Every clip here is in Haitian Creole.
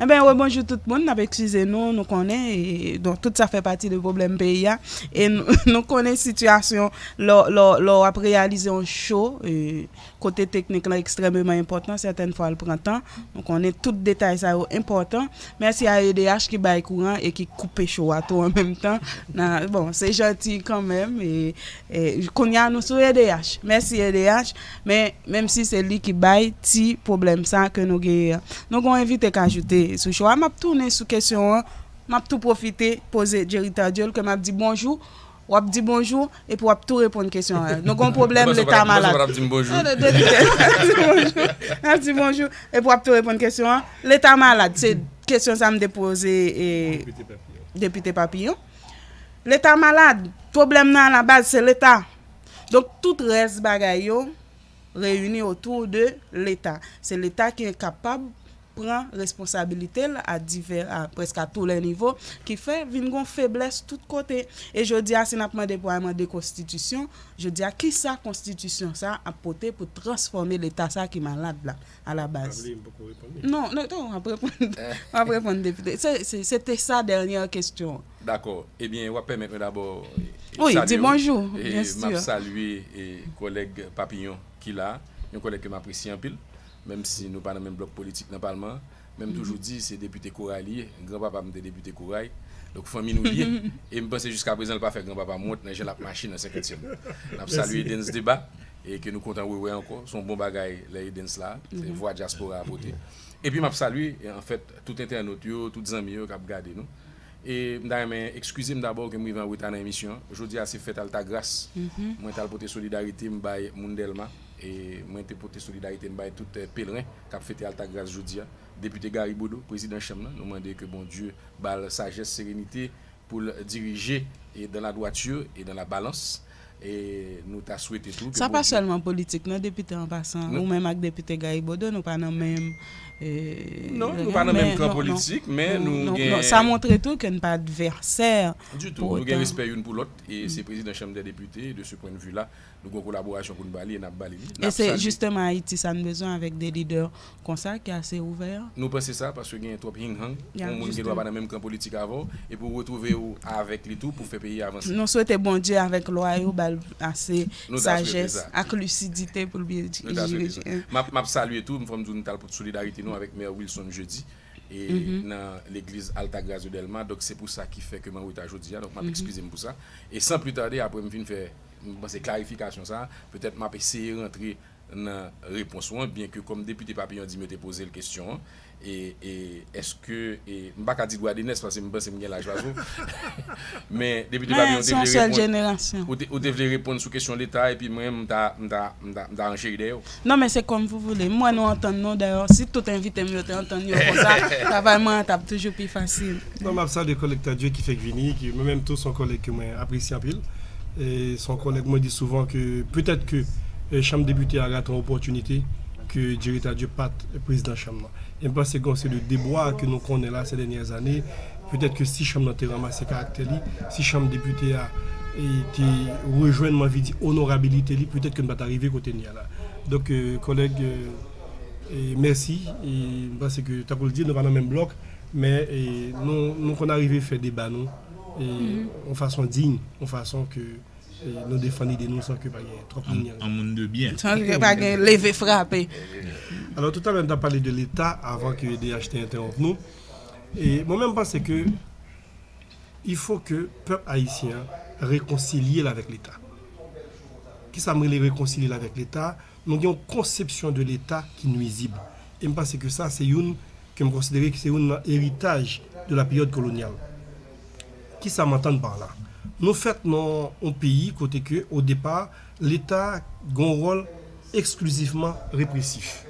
Enben re bonjou tout moun, nap ekskize nou, nou konnen don tout sa fè pati de pwoblèm peyi a e nou konnen sitiyasyon lò wap reyalize yon cho kote teknik lan ekstrèmeman enpòtan sètèn fwa l pran tan, nou konnen tout detay sa yo enpòtan, mèsi a edh ki bay kouran e ki koupe cho a tou an menm tan, bon se janti kanmenm. Kounya nou sou edh. Mèsi edh men menm si se li ki bay ti pwoblèm sa ke nou genyen an. Nou gon envite k ajoute sou cho a map tounen sou kesyon an map tou pwofite poze Jerry Tardieu ke map di bonjou wap di bonjou epi wap tou reponn kesyon an nou gon pwoblèm leta malad Mwen panse w patap dim bonjou Depi ke Nap di bonjou epi wap tou reponn kesyon an leta malad se kesyon sa m te poze Depite Papillon. Leta malad, pwoblèm nan a la baz se leta. Donk tout rès bagay yo reyini otou de leta. Se leta ki enkapab pran responsabilite l a divè, a prèske a tou lè nivo, ki fè vin gon feblès tout kote. E jodi a si n ap mande pou al mande konstitisyon, jodi a kisa konstitisyon sa ap pote pou transfòme leta sa ki malad la? a la baz. Pabli, m poko reponn li. Non, non, w ap reponn. W ap reponn depite. Se te sa dènyè kesyon an. Dakò. Ebyen, w ap pèmèt mwen dabò salye w. Wi, di bonjou. Byen si. E m ap salye kòlèg Papillon ki la a. Yon kòlèg ke m apresye anpil. Menm si nou pa nan menm blòk politik nan palman an. Men m toujou di se depite Koray li ye. Gran papa m te depite Koray. Donk fanmi nou li ye. E m panse jiskaprezan l pa fè gran papa m wont nan jan l ap mache nan senkantyèm. N ap salye Dens Debat E ke nou kontan Wewe ankò. Se yon bon bagay lè Edens la. Se vwa dyaspora a pote. Epi m ap salye anfèt tout entènot yo, tout zanmi yo k ap gade nou. E m ta renmen ekskize m dabò ke m rive an reta nan emisyon an. Jodi a se fèt Altagras. Mwen t al pote solidarite m bay moun Dèlma. E mwen te pote solidarite m bay tout pelren k ap fete Altagras jodi a. Depite Gary Bodeau, prezidan chanm nan, nou mande ke Bondye ba l sajès, serenite, pou l dirije e dan la dwatur e dan la balans e nou ta swete tou ke Bondye. Sa pa sèlman politik non depite an pasan ou menm ak depite Gaï Bodeau nou pa nan menm non nou pa nan menm kan politik men nou gen non sa montre tou ke n pa advèsè du tou nou gen respè youn pou lòt e se prezidan chanm dè depite e de se pwendvi la Nou gen yon kolaborasyon pou n ba li e n ap ba li li. E se jisteman Ayiti sa n bezwen avèk de lidè konsa ki ase ouvè an. Nou panse sa, paske genyen twòp hing hang. Yon moun gen dwa pa nan menm kan politik avè w, epi w retwouve w avèk li tou pou fè peyi a avanse. Nou swete Bondye avèk lwa yo ba l ase sajès ak lisidite pou l byen jije. Nou ta swete sa. M ap salye tou, fò m di w nou t al pote solidarite nou avèk Mè Wilson Jeudi nan legliz Altagracia Delma, donk se pou sa ki fè ke m an reta jodi a, donk m ap ekskize m pou sa. E san pli tade, apre m fin fè. M panse klarifikasyon sa a, petèt m ap eseye rantre nan repons ou an, byenke kòm depite Papillon di m yo te poze l kesyon an, e, e, èske, e, m pa ka di Dwadènès paske m panse m gen laj pase w, men depite Papillon ou te vle reponn, ou te vle reponn sou kesyon Leta epi mwen menm m ta, m ta, m ta, m ta rancheri dèyè w. Non men se kòm pou voule. M wè nou antann nou dayò. Si tout envite m yo te antann yo konsa, travay mwen an t ap toujou pi fasil. Non m ap salye kòlèg Tardieu ki fèk vini, ki mwen menm tou s on kòlèg ke mwen apresye anpil. S on kòlèg mwen di souvan ke petèt ke chanm depite a rate yon opòtinite ke Jerry Tardieu pa t prezidan chanm nan. E m panse gen yon seri de debwa ke nou konnen la sè dènyè zane Petèt ke si chanm nan te ranmase karaktè li, si chanm depite a te rejwenn, m anvi di, onorabilite li, petèt ke n pa ta rive kote n ye a la. Donk, kòlèg, mèsi. M panse ke, tankou l di, nou pa nan menm blòk, men nou konn arive fè deba nou yon fason diy, yon fason ke nou defann ide nou san ke pa gen twòp linyanj. An moun de byen. San ke pa gen leve frape. Alò, toutalè, n t ap pale de Leta avan ke edh te entèwonp nou. E mwen menm panse ke il faut ke pèp ayisyen an rekonsilye l avèk leta. Kisa m rele rekonsilye l avèk leta? Nou gen yon konsepsyon de leta ki nwizib. E m panse ke sa se youn ke m konsidere ke se youn nan eritaj de la peryòd kolonyal. Kisa m antann par la? Nou fèt nan yon peyi kote ke o depa leta gen yon wòl eksklizivman represif.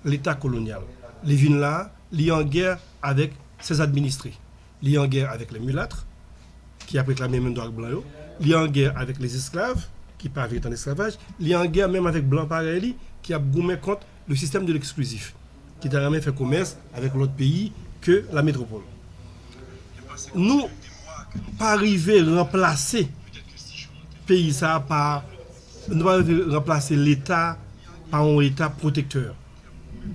Leta kolonyal. Li vin la a, li an gè avèk ses administres. Li an gè avèk les mulâtres, ki ap reklame menm dwa ak blan yo. Li an gè avèk les esclaves, ki pa vle tann esklavaj. Li an gè menm avèk blan parèy li, ki ap goumen kont le système de l'exclusif, ki ta renmen fè komès avèk lòt peyi ke la métropole. Nou pa rive ranplase peyi sa a pa. Nou pa rive ranplase Leta pa yon Eta pwotektè.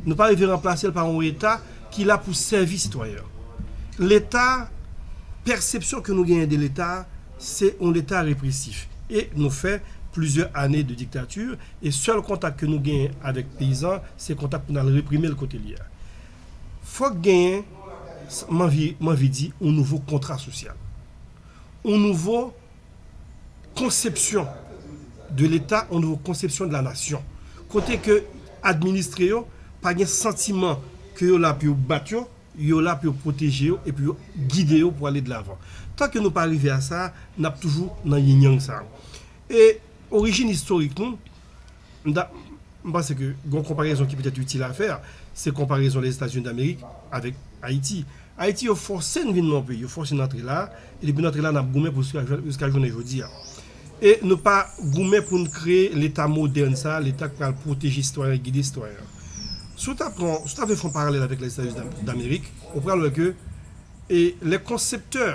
Nou pa rive ranplase l pa yon Eta ki la pou sèvi sitwayen an. Leta, pèsepsyon ke nou genyen de Leta, se yon Leta represif. E nou fè plizyè ane de diktati, e sèl kontak ke nou genyen avèk peyizan an, se kontak pou n al reprime l kote l ye a. Fòk genyen, m anvi di, yon nouvo kontra sosyal. Yon nouvo konsepsyon de leta, yon nouvo konsepsyon de la nasyon. Kote ke administre yo pa gen santiman ke yo la pou yo bat yo, yo la pou yo pwoteje yo e pou yo gide yo pou ale de lavan. Tan ke nou pa rive a sa, n ap toujou nan yin-yang sa. E orijin istorik nou. M ta, m panse ke gon konparezon ki petèt itil a fè, se konparezon Lèzetazini Damerik avèk Ayiti. Ayiti yo fòse n vin nan yon peyi, yo fòse n antre la, e depi n antre la n ap goumen pou jiska jounen jodi a. E nou pa goumen pou n kreye Leta modèn sa a, Leta k pral pwoteje sitwayen, gide sitwayen an. Si w ta pran, si w ta vle fè yon paralèl avèk Lèzetazini Damerik, ou pral wè ke e lè konseptè,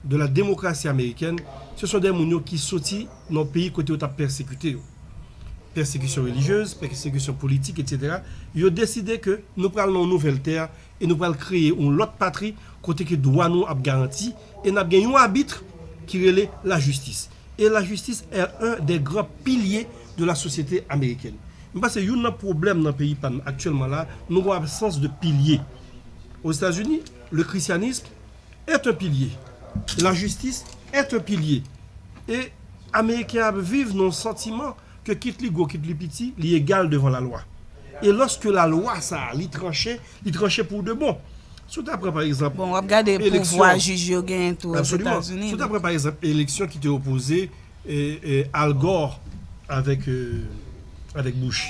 de la démocratie américaine, se son dè moun yo ki soti nan peyi kote yo tap pèsekite yo, pèsekisyon relijyez, pèsekisyon politik etc. Yo deside ke nou pral nan yon nouvèl tè e nou pral kreye yon lòt patri kote ke dwa nou ap garanti e nap gen yon abitre ki rele la jistis. E la jistis è un dè gran pilye de la sosyete amerikèn. M panse youn nan pwoblèm nan peyi pa n aktyèlman la, nou gon absans de pilye. Ozetazini, le christianisme, est un pilier la justice est un pilier e ameriken ap viv nan yon santiman ke kit li gwo kit li piti li egal devan la lwa e loske la lwa sa a li tranche li tranche pou de bon si w ta pran pa egzanp eleksyon bon w ap gade pouvwa jij yo genyen tou ozetazini si w ta pran pa egzanp eleksyon ki te opoze Al Gore avèk Bush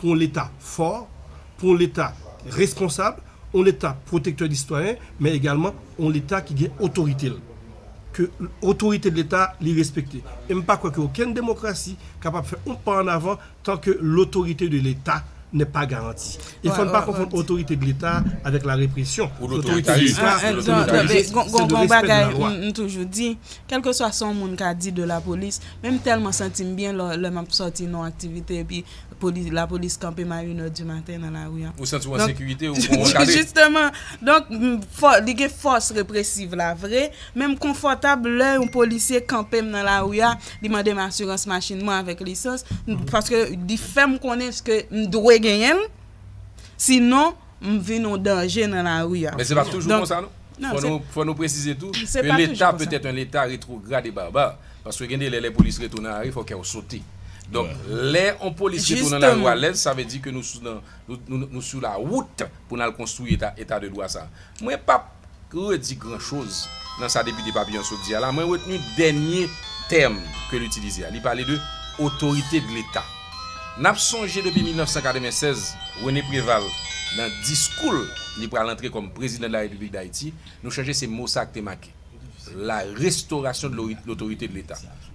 pou yon Leta fò, pou yon Leta responsab, yon Leta pwotektè de sitwayen, men egalman yon Leta ki gen otorite l, ke otorite Leta li respekte. E m pa kwè ke okenn demokrasi kapab fè yon pa an avan tan ke lotorite de Leta nè pa garanti. E fò n pa konfonn otorite de Leta avèk la represyon. Ou lotoritaris, ou lotoritaris. Gon bagay m toujou di, kèlkeswa sa yon moun ka di de lapolis, men m tèlman santi m byen lè m ap sòti nan yon aktivite epi, Polis, lapolis kanpe m a une heure du matin nan lari an. Ou santi w an sekirite, ou kon w ankadre. Justement! Donk, li gen fòs represiv la vre, men m konfòtab lè yon polisye kanpe m nan lari a, li mande m asirans machin mwen avèk lisans, paske li fè m konnen ske m dwe genyen l, sinon. m vin yon danje nan lari a. Men se pa toujou konsa non. Fò nou presize tou ke leta petèt yon leta retrograd e barbar. Paske gen de lè lè polis retounen nan lari fò kè w sote. Donk lè yon polis retounen nan lari w alèz sa vle di ke nou sou la wout pou n al konstwi eta de dwa sa. Mwen pa. Pou redi gran choz nan sa depite Papillon sot di a la, mwen retni dènye tèm ke l itilize a. Li pale de otorite de leta. N ap sonje depi 1996, René Préval nan diskou l li pral antre kòm prezidan de la Repiblik Dayiti, nou chanje se mo sa k te make la restauration de l'autorité de l'Etat.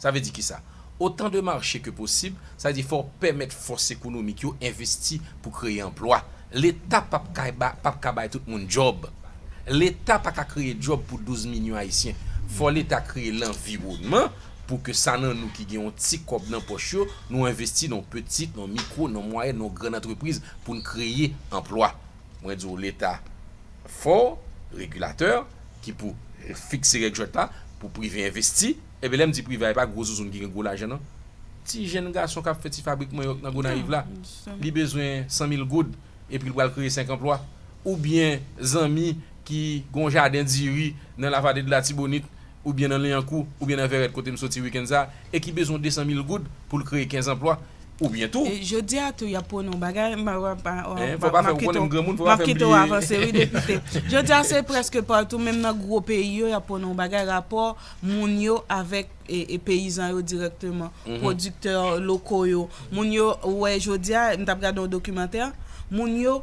Sa vle di kisa? Otan de mache ke posib, sa vle di fò w pèmèt fòs ekonomik yo envesti pou kreye anplwa. Leta p ap ka ba, p ap ka bay tout moun djòb. Leta pa ka kreye djòb pou 12 milyon Ayisyen. Fò Leta kreye lanviwònman pou ke sa nan nou ki gen yon ti kòb nan pòch yo, nou envesti nan yon peti, nan yon mikwo, nan yon mwayèn, nan yon grann antrepriz pou n kreye anplwa. Mwen di w Leta fò, regilatè, ki pou fikse règ jwèt la, pou prive envesti. Ebyen lèm di prive a e pa gwo zouzoun ki gen gwo lajan nan ti jenn gason kap fè ti fabrik manyòk nan gonayiv la li bezwen 100 mil goud epi li pral kreye 5 anplwa oubyen zanmi ki gon jaden diri nan la vade de latibonit oubyen nan liankou oubyen nan vèrèt kotem soti wikenn sa e ki bezwen 200 mil goud poul kreye 15 anplwa oubyen tou. E jodia tou yap pwone yon bagay map kite w avanse wi depite jodia se prèske patou menm nan gwo peyi yo yap pwone yon bagay rapò moun yo avèk peyizan yo dirèkteman, pwodiktè loko yo, moun yo, ou wè jodi a, m t ap gade yon dokimantè, moun yo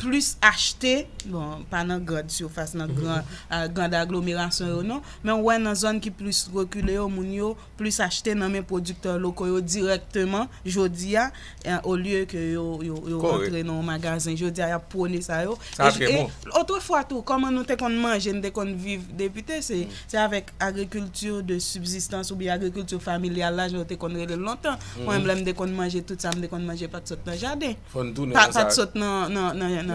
plis achte, bon, pa nan grand surface, nan grand aglomerasyon yo non, men ou wè nan zòn ki plis rekile yo, moun yo plis achte nan men pwodiktè loko yo dirèkteman jodi a, o lye ke yo rantre nan yon magazen jodi a yap pwone sa yo e otrefwa tou kòman nou te konn manje nou te konn viv depite se avèk agrikilti de sibzistans oubyen agrikilti familyal la jan yo te konn rele l lontan mwen menm lè m te konn manje tout sa m te konn manje pat sot nan jaden pat sot nan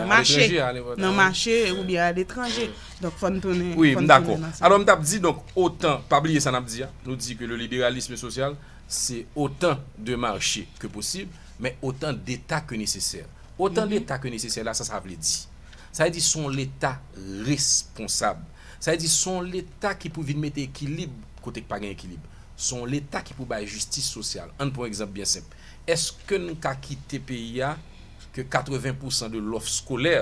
mache nan mache oubyen aletranje donk fòn tounen wi m dakò alò m tap di donk otan pa bliye sa nap di a nou di ke le liberalisme sosyal se otan de marche ke posib, men otan deta ke nesesè. Otan deta ke nesesè la, sa sa vle di? Sa vle di se yon leta responsab. Sa vle di se yon leta ki pou vin mete ekilib kote ki pa gen ekilib. Se yon leta ki pou bay jistis sosyal. Ann pran yon egzanp byen senp. Eske n ka kite peyi a ke 80 pousan de lòf skolè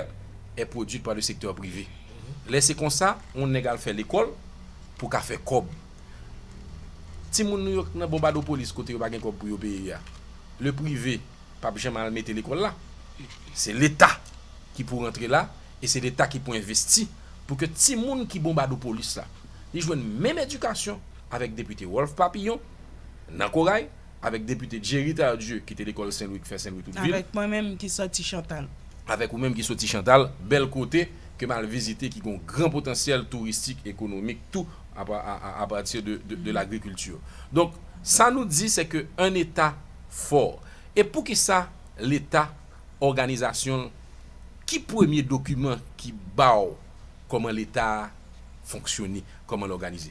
è pwodwit pa le sektè prive? Lè se konsa, yon nèg al fè lekòl pou ka fè kòb. Timoun nou yo k nan bonbadopolis kote yo pa gen kòb pou yo peye a, le prive pap janm al mete lekòl la. Se leta ki pou rantre la e se leta ki pou envesti pou ke timoun ki bonbadopolis la li jwenn menm edikasyon avèk depite Wolf Papillon nan Koray. Avèk depite Jerry Tardieu ki te lekòl Sen Lwi k fè Sen Lwi tout vil. Avèk mwen menm ki sòti Chantal. Avèk ou menm ki sòti Chantal, bèl kote ke m al vizite ki gen yon gran potansyèl touristik, ekonomik tou a pati de lagrikilti. Donk sa nou di se ke an eta fò. E pou ki sa leta òganizasyon l ki premye dokiman ki ba w kòman leta a fonksyone, kòman l òganize?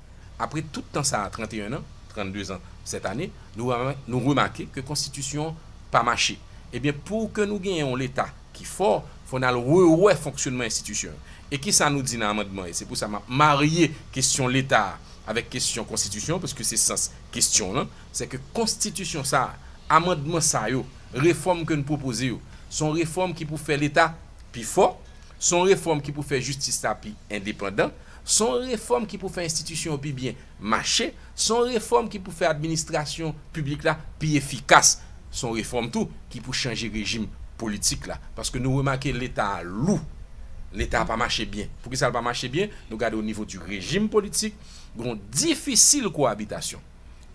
Apre tout tan sa a, 31 an, 32 ans cette année, nou remake ke konstitisyon an pa mache. Ebyen pou ke nou genyen yon leta ki fò, fò n al rewè fonksyonman enstitisyon yo. E kisa nou di nan amandman e se pou sa m ap marye kesyon leta a avèk kesyon konstitisyon an paske se sans kesyon w lan, sè ke konstitisyon sa a, amandman sa yo, refòm ke n pwopoze yo, se yon refòm ki pou fè leta pi fò, se yon refòm ki pou fè jistis la pi endepandan, Se yon refòm ki pou fè enstitisyon yo pi byen mache, se yon refòm ki pou fè administrasyon piblik la pi efikas, se yon refòm tou ki pou chanje rejim politik la. Paske nou remake Leta a lou, Leta a pa mache byen. Poukisa l pa mache byen? Nou gade onivo di rejim politik, gen yon difisil kowabitasyon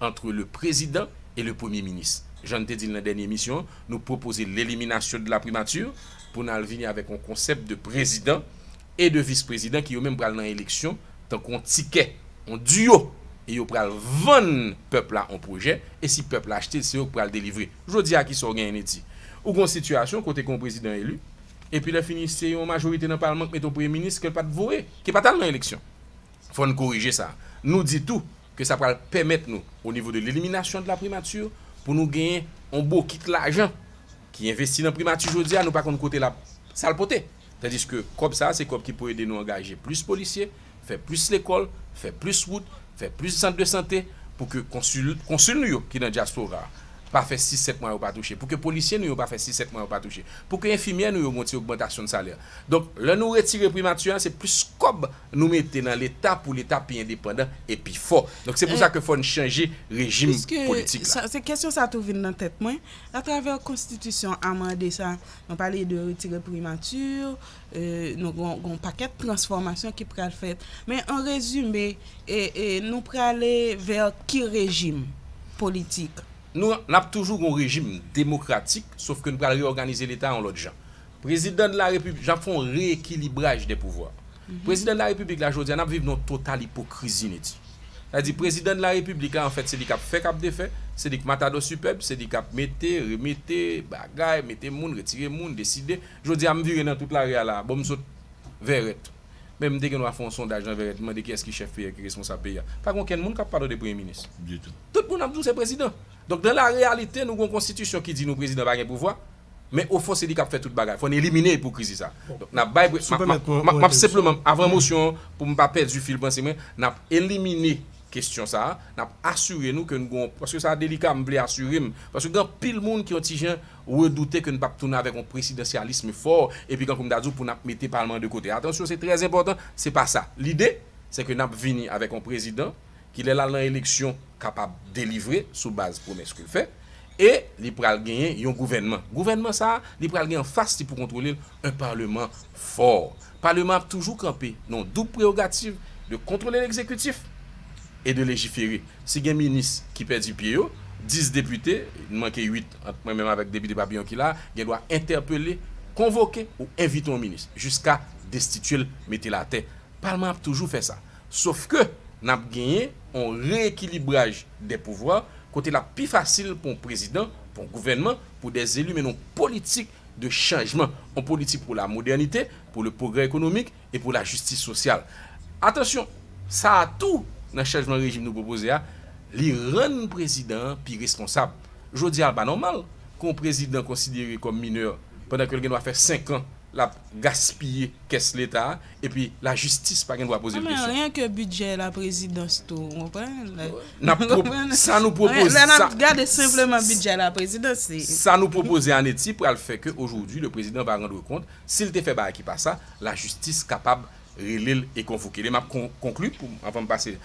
antre le prezidan e le premye minis. Jan n te di l nan dènye emisyon an, nou pwopoze leliminasyon de la primature pou n al vini avèk yon konsèp de prezidan e 2 vis prezidan ki yo menm pral nan eleksyon tankou yon tikè, yon diyo e yo pral vann pèp la yon pwojè e si pèp la achte l se yo ki pral delivre. Jodi a kisa w genyen Niti? Ou gen yon sitiyasyon kote gen yon prezidan eli epi lè fini se yon majorite nan palman ki mete yon premye minis ke l pat voye, ki pat al nan eleksyon. Fò n korije sa. Nou di tou ke sa pral pèmèt nou o nivo de leliminasyon de la primature pou nou genyen yon bokit lajan ki envesti nan primati jodi a nou pa konn kote l ap sa l pote. Tandiske kòb sa a se kòb ki pou ede nou angaje plis polisye, fè plis lekòl, fè plis wout, fè plis sant de sante, pou ke konsil nou yo ki nan dyaspora a pa fè sis sèt mwa yo pa touche, pou ke polisye nou yo pa fè sis sèt mwa yo pa touche, pou ke enfimyè nou yo gon ti ogmantasyon de salè. Donk, lè nou retire primati a, se plis kòb nou mete nan leta pou leta pi endepandan e pi fò. Donk, se pou sa ke fò n chanje rejim politik la. Piske, se kesyon sa tou vin nan tèt mwen, atravè konstitisyon amande sa, Nou pale de retire primati, nou gen yon pakèt transfòmasyon ki pral fèt. Men an rezime, nou prale vè ki rejim politik? Nou ap toujou gen yon rejim demokratik, sof ke nou pral reyòganize Leta yon lòt jan. Prezidan de la Repiblik, nou ap fè yon reyekilibraj de pouvwa. Prezidan de la Repiblik la, jodi a, nou ap viv nan yon total ipokrizi, Neti. Sa vle di prezidan de la repiblik la anfèt se li kap fè kap defè, se li k matadò sipèb, se li kap mete, remete, bagay, mete moun, retire moun, deside. Jodi a m vire nan tout lari a la, bon m sot Vèrèt. Men m te gen dwa fè yon sondaj nan Vèrèt, m mande kiyès ki chèf peyi a, ki responsab peyi a. Pa gen okenn moun kap pale de premye minis. Ditou. Tout moun ap di w se prezidan. Donk nan la reyalite nou gen yon konstitisyon ki di nou prezidan pa gen pouvwa. Men ofon se li kap fè tout bagay. Fò n elimine ipokrizi sa. Donk nap bay Si w pèmèt mwen yon Map senpleman entèvsyon. avan mosyon an pou m pa pèdi fil panse mwen, nap elimine kesyon sa a, nap asire nou ke n gon, paske sa delika m vle asire m, paske gen anpil moun ki yon ti jan redoute ke n pap tounen avèk yon presidansyalism fò epi kankou m ta di w pou nap mete palman de kote. Atansyon se trè enpòtan, se pa sa. Lide se ke nap vini avèk yon prezidan. kilè lal nan eleksyon kapab delivre sou baz pwomès ke l fè e li pral genyen yon gouvènman. Gouvènman sa a, li pral gen anfas li pou kontwole l yon paleman fò. Paleman ap toujou kanpe nan yon doub prerogativ de kontwole legzekitif e de lejifere. Si gen minis ki pèdi pye yo, 10 depite, n manke 8 ant mwen menm avèk depite Papillon ki la a, gen dwa entèpele, konvoke ou envite yon minis jiska destitye l, mete l atè. Palman ap toujou fè sa. Sof ke, n ap genyen yon reyekilibraj dè pouvwa, kote l ap pi fasil pou yon prezidan, pou yon gouvènman, pou dè zeli mennen yon politik de chanjman, yon politik pou la modènite, pou le pwogrè ekonomik e pou la jistis sosyal. Atansyon, sa a tou, nan chanjman rejim nou pwopoze a, li rann prezidan an pi responsab. Jodi a, l pa nòmal ke yon prezidan konsidere kòm minè, pandan ke l gen dwa fè senkan, l ap gaspiye kès leta a epi lajistis pa gen dwa poze l kesyon. N ap sa nou pwopoze sa nou pwopoze an Eti pral fè ke ojodi le prezidan va randre kont si l te fè bagay ki pa sa lajistis kapab rele l e konvoke l e m ap konkli pou avan m pase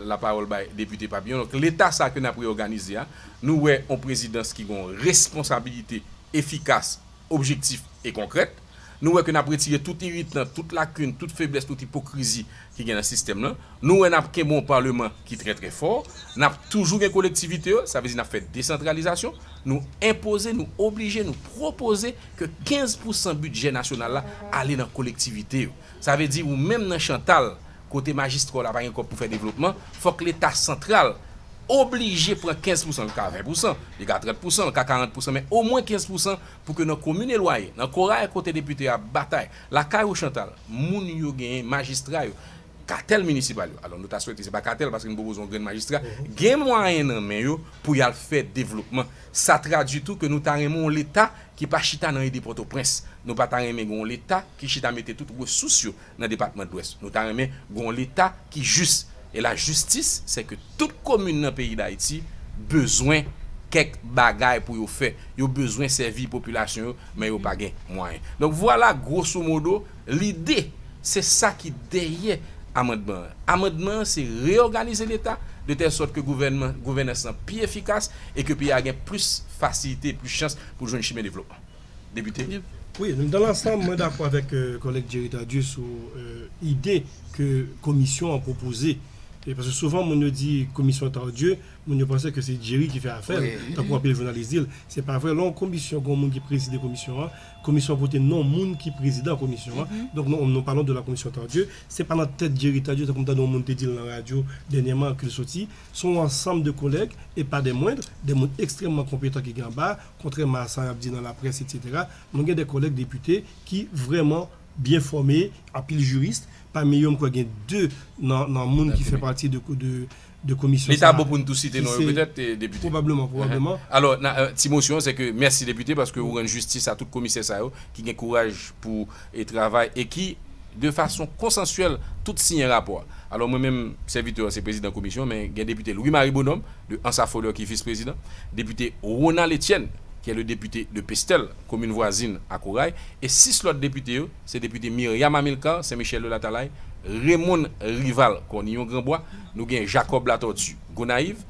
lapawòl bay depite Papillon donk leta sa ke n ap reyòganize a nou wè yon prezidans ki gen yon responsabilite efikas objektif e konkrèt. Nou wè ke n ap retire tout iritan, tout lakin, tout feblès, tout ipokrizi ki gen nan sistèm lan. Nou wè n ap kenbe yon Paleman ki trè trè fò. N ap toujou gen kolektivite yo, sa vle di n ap fè desantralizasyon. Nou enpoze, nou oblije, nou pwopoze ke 15 pousan bidjè nasyonal la ale nan kolektivite yo. Sa vle di ou menm nan Chantal, kote majistra w la pa gen kòb pou fè devlopman, fòk leta santral oblije pran 15 pousan, li ka 20 pousan, li ka 30 pousan, li ka 40 pousan men omwen 15 pousan pou ke nan komin elwaye, nan koray kote depite a ap batay, lakay ou Chantal, moun yo genyen, majistra yo, katèl minisipal yo, alò nou ta swete se pa katèl paske nou poko zon grenn majistra, gen mwayen nan men yo pou y al fè devlopman. Sa tradui tou ke nou ta renmen yon leta ki pa chita nan ede Pòtoprens. Nou pa ta renmen gen yon leta ki chita mete tout resous yo nan depatman dwès. Nou ta renmen gon leta ki jis e la jistis se ke tout komin nan peyi dayiti bezwen kèk bagay pou yo fè. Yo bezwen sèvi popilasyon yo men yo pa gen mwayen. Donk vwala gwoso modo lide se sa ki dèyè amandman an. Amandman an se reyoganize leta de tèl sòt ke gouvènman gouvènans lan pi efikas e ke peyi a gen plis fasilite, plis chans pou jwenn chimen devlopman. Depite. Wi, dan lansanm mwen dakò avèk kòlèg Jerry Tardieu sou ide ke komisyon an pwopoze. Paske souvan moun yo di komisyon Tardieu, moun yo panse ke se Jerry ki fè afè l, tankou anpil jounalis di l. Se pa vre, lè yon komisyon gen yon moun ki prezide komisyon an, komisyon an pote non moun ki prezidan komisyon an, donk nou palon de la komisyon Tardieu. Se pa nan tèt Jerry Tardieu, tankou m tande yon moun te di l nan radyo dènyèman, ke l soti. Se yon ansanm de kòlèg, e pa dè mwendr, dè moun ekstrèmman konpetan ki gen anba a. Kontrèman a sa y ap di nan laprès eksetera, nou gen de kòlèg depite ki vrèman byen fòme, anpil jiris, pami yo m kwè gen de nan moun ki fè pati de komisyon sa a. Li ta bon pou n tou site non yo petèt, Depite? Pwobableman, pwobableman. Alò, ti mosyon an sè ke mèsi Depite paske ou rann jistis a tout komisè sa yo ki gen kouraj pou e travay e ki, de fason konsansyèl, tout siyen rapò a. Alò, mwen menm, sèvitè an, se prezidan komisyon, men gen depite Louis Marie Bonhomme, de Ansafolè, ki vis-prezidan, depite Ronald Etienne, ki est le député de Pestel, komin vwazin a Koray, e sis lòt depite yo, se depite Myriam Amilcar, Sen Michèl de Latalay, Raymond Rival, Kòniyon Granbwa, nou gen Jacob Latortue, Gonayiv,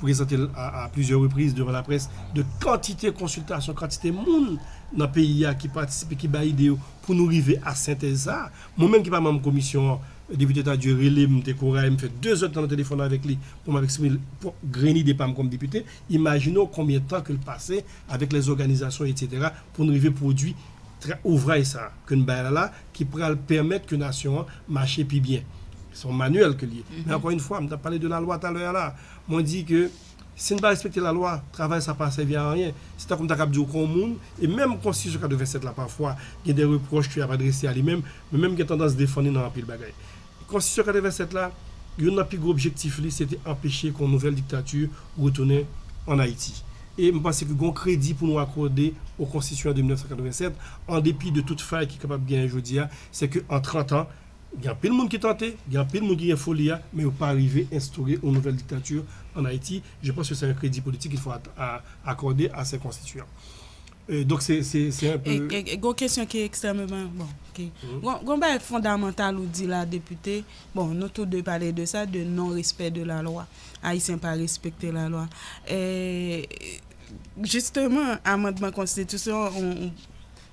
prezante l a plizyè repriz devan laprès de kantite konsiltasyon, kantite moun nan peyi a ki patisipe, ki bay ide yo pou nou rive a sentèz sa a. Mwen menm ki pa manm komisyon an, Depite Tardieu rele m, te koray m, m fè dezèdtan nan telefòn avèk li pou m ap eksprime l pwòp grenn ide pa m kòm depite. Imajine w konbyen tan ke l pase avèk lèzòganizasyon etsetera pou n rive pwodui ouvraj sa a ke n bay la la. ki pral pèmèt ke nasyon an mache pi byen. Se yon manyèl ke li ye. Men ankò infwa, m t ap pale de lalwa talè a la a. Mwen di ke si n pa respekte lalwa, travay sa pa sèvi a anyen. Se tankou m ta kab di w ke yon moun, e menm konstitisyon 87 la pafwa gen de repwòch ke y ap adrese a li menm, mwen menm m gen tandans defann li nan anpil bagay. Konstitisyon 87 la, youn nan pi gwo objektif li se te anpeche ke yon nouvèl diktati retounen an Ayiti. E m panse ke gen yon kredi pou nou akòde o Konstitisyon de 1987, an depi de tout fay ki kapab genyen jodi a, se ke an 30 an, gen anpil moun ki tante, gen anpil moun ki gen foli a, men yo pa rive enstore yon nouvèl diktati an Ayiti. Je panse ke se un kredi politik il fo akòde a se Konstitiyan. Donk se se un peu. Gen yon kesyon ki ekstrèmeman, bon, ok. Gen yon bagay fondamantal ou di la Depite, bon, nou tou de pale de sa, de non respè de la lwa. Ayisyen pa respekte la lwa. Jisteman, amandman konstitisyon,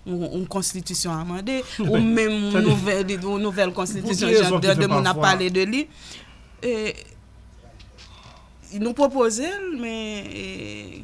yon konstitisyon amande, ou menm yon nouvèl konstitisyon jan de de moun ap pale de li, nou pwopoze l, men.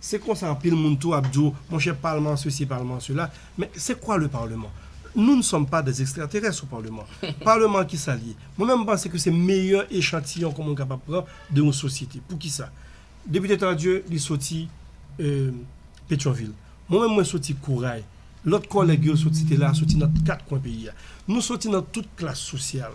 Se konsa anpil moun tou ap di w, monchè palman sesi palman sela, men se kwa le parlement? Nou n sòm pa des extraterès o parlement. Parlement ki sa l ye? Mwen menm m panse ke se meyè echantiyon ke moun kapab pran de yon sosyete. Pou ki sa? Depite Tardieu li soti Petyonvil. Mwen menm mwen soti Koray. Lòt kòlèg yo soti te la soti nan kat kwen peyi a. Nou soti nan tout klas sosyal.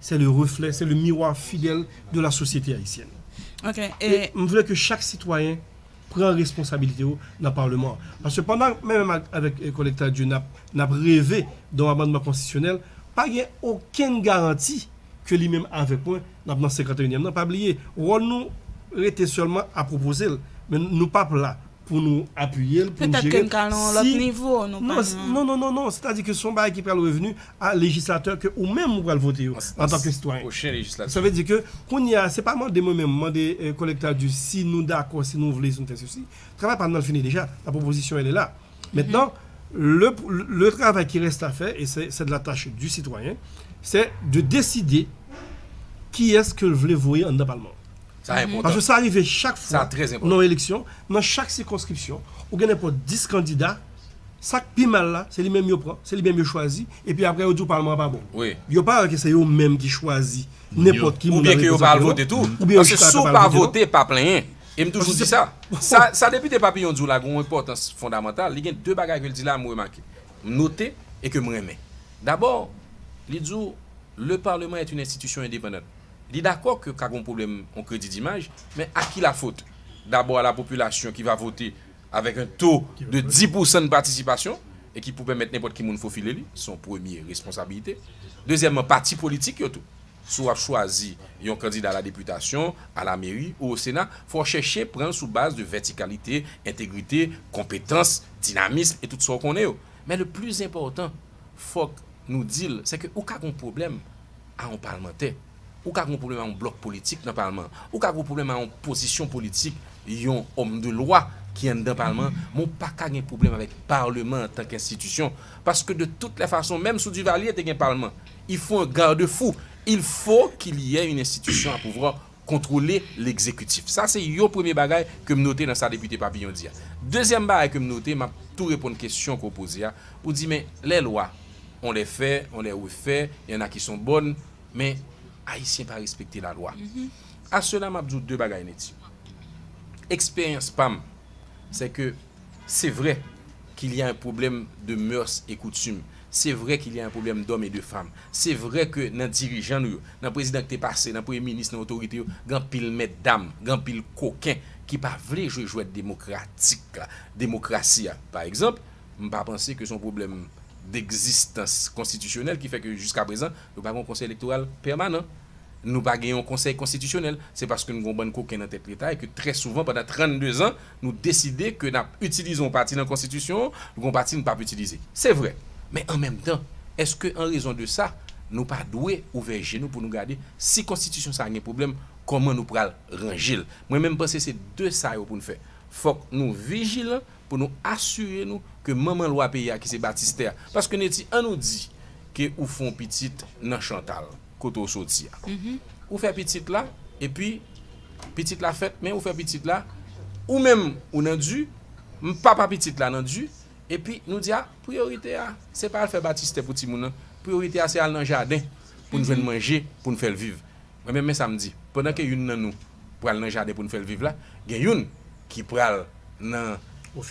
c'est le reflet, c'est le miroir fidèle de la société haïtienne. Ok, e. E m vle ke chak sitwayen pran responsabilite yo nan Parlement an. Paske pandan mwen menm avèk kòlèg Tardieu n ap n ap reve don amandman konstitisyonèl, pa gen okenn garanti ke li menm avèk mwen n ap nan 51 nyèm nan. Pa bliye, wòl nou rete sèlman a pwopoze l, men nou p ap la pou nou apiye l, pou nou jere l, si, non, non, non, non, sètadi ke son bagay ki pral revenu a lejislatè ke ou menm ou pral vote yo, antanke sitwayen. Sa vle di ke, kounye a, se pa mande mwen menm, mande kòlèg Tardieu si nou dakò, si nou vle, si nou fè sesi, travay pa nou nan l fini deja, la proposition elle est là. Maintenant, le, le travay ki reste à faire, et c'est, c'est de la tâche du citoyen, c'est de décider kiyès ke l vle voye anndan palman an. Sa enpòtan. Paske sa rive chak fwa. Sa trè enpòtan. Nan yon eleksyon, nan chak sikonskripsyon, ou gen nenpòt 10 kandida, sa k pi mal la, se li menm yo pran, se li menm yo chwazi, epi apre yo di w palman an pa bon. Wi. Yo pa wè ke se yo menm ki chwazi nenpòt ki moun nan reprezante yo. Oubyen ke yo pa al vote tou. Oubyen yo chita yo pa al vote. Paske si w pa vote, pa plenyen. E m toujou di sa. Sa Depite Papillon di w la gen yon enpòtans fondamantal. Li gen 2 bagay ke l di la m remake, m note e ke m renmen. Dabò, li di w, Le parlement est une institution indépendante. Li dakò ke ka gen yon pwoblèm yon kredi dimaj, men a ki lafot? Dabò a la popilasyon ki va vote avèk yon to de 10 pou san patisipasyon e ki pou pèmèt nenpòt ki moun fofile li, se yon premye responsabilite. Dezyèmman, pati politik yo tou. Si w ap chwazi yon kandida a la depitasyon, a la meri ou o sena, fò w chèche pran l sou baz de vètikalite, entegrite, konpetans, dinamism e tout sa w konnen yo. Men le pli zenpòtan, fòk nou di l, se ke ou ka gen yon pwoblèm, a yon palmantè, ou ka gen yon pwoblèm a yon blòk politik nan palman an, ou ka gen yon pwoblèm a yon pozisyon politik yon òm de lwa ki anndan palman an, men ou pa ka gen pwoblèm avèk palman antanke enstitisyon, paske de tout lè fason menm sou Divalye te gen palman, il fo un garde fou, il fo kil yè yn enstitisyon a pouvwa. kontwole legzekitif. Sa se yon premye bagay ke m note nan sa Depite Papillon di a. Dezyèm bagay ke m note, m ap tou reponn kesyon ke w poze a, ou di men lè lwa, on les fait, on les refait, il y en a qui sont bonnes, men Ayisyen pa respekte lalwa. A sela m ap di w de bagay Netty. Eksperyans pa m, se ke. C'est vrai qu'il y a un problème de mœurs et coutumes, c'est vrai qu'il y a un problème d'hommes et de femmes, c'est vrai que nan dirijan nou yo, nan prezidan ki te pase, nan premye minis, nan otorite yo, gen anpil mèt dam, gen anpil koken ki pa vle jwe jwèt demokratik la, demokrasi a. Par exemple, m pa panse ke se yon pwoblèm d'existence constitutionnelle ki fè ke jiska prezan nou pa gen yon konsèy elektoral pèmanan, nou pa gen yon konsèy konstitisyonèl, se paske nou gen yon bann koken nan tèt leta e ke trè souvan pandan 32 zan, Nou deside ke n ap itilize yon pati nan Konstitisyon an, gen yon pati n pap itilize. Se vre. Men an menm tan, èske an rezon de sa, nou pa dwe ouvè je nou pou nou gade si Konstitisyon sa a gen pwoblèm, kòman nou pral ranje l? Mwen menm panse se de sa yo pou n fè. Fòk nou vijilan pou nou asire nou ke manman lwa peyi a ki se batistè a, paske Netty an nou di ke ou fè yon pitit nan Chantal. kote ou soti a. Ou fè pitit la, epi pitit la fèt, men ou fè pitit la, ou menm ou nan di, m papa pitit la nan di, epi nou di a, priyorite a, se pa al fè batistè pou timoun nan, priyorite a se al nan jaden pou n jwenn manje pou n fè l viv. Mwen menm men sa m di, pandan ke youn nan nou pral nan jaden pou n fè l viv la, gen youn ki pral nan